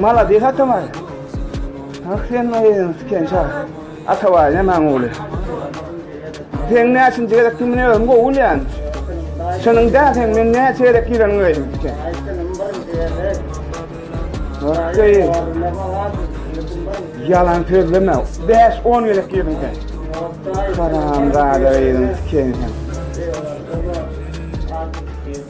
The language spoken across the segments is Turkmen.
Malades Atabay. Ah sen maýyň tiken çal. Atabay ne maň ogly. Sen näçinji gezek kim ne özüm gowy bilýän. Şunuň da sen men näçe gezek giren göýdüm tiken. Okey. Yalan sözleme. 5-10 gezek girdim sen. Karam gada girdim tiken sen.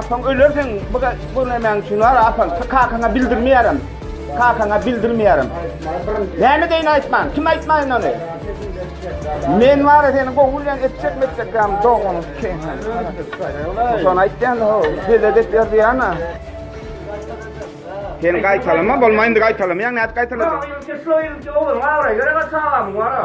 Apaň öler seň bu görmemäň üçin wara apaň kakaňa bildirmeýärem. Kakaňa bildirmeýärem. Näme deýin aýtman? Kim aýtmaýyn ony? Men wara seni gowy bilen etjek metjek ýam doganyň üçin. Şony aýtýan o bize dek ýerdi ýana. Sen gaýtalama bolmaýyndy gaýtalamaýaň nädip gaýtalajaň? Şoýunça ogluň abraýy gerek aç agamyň wara.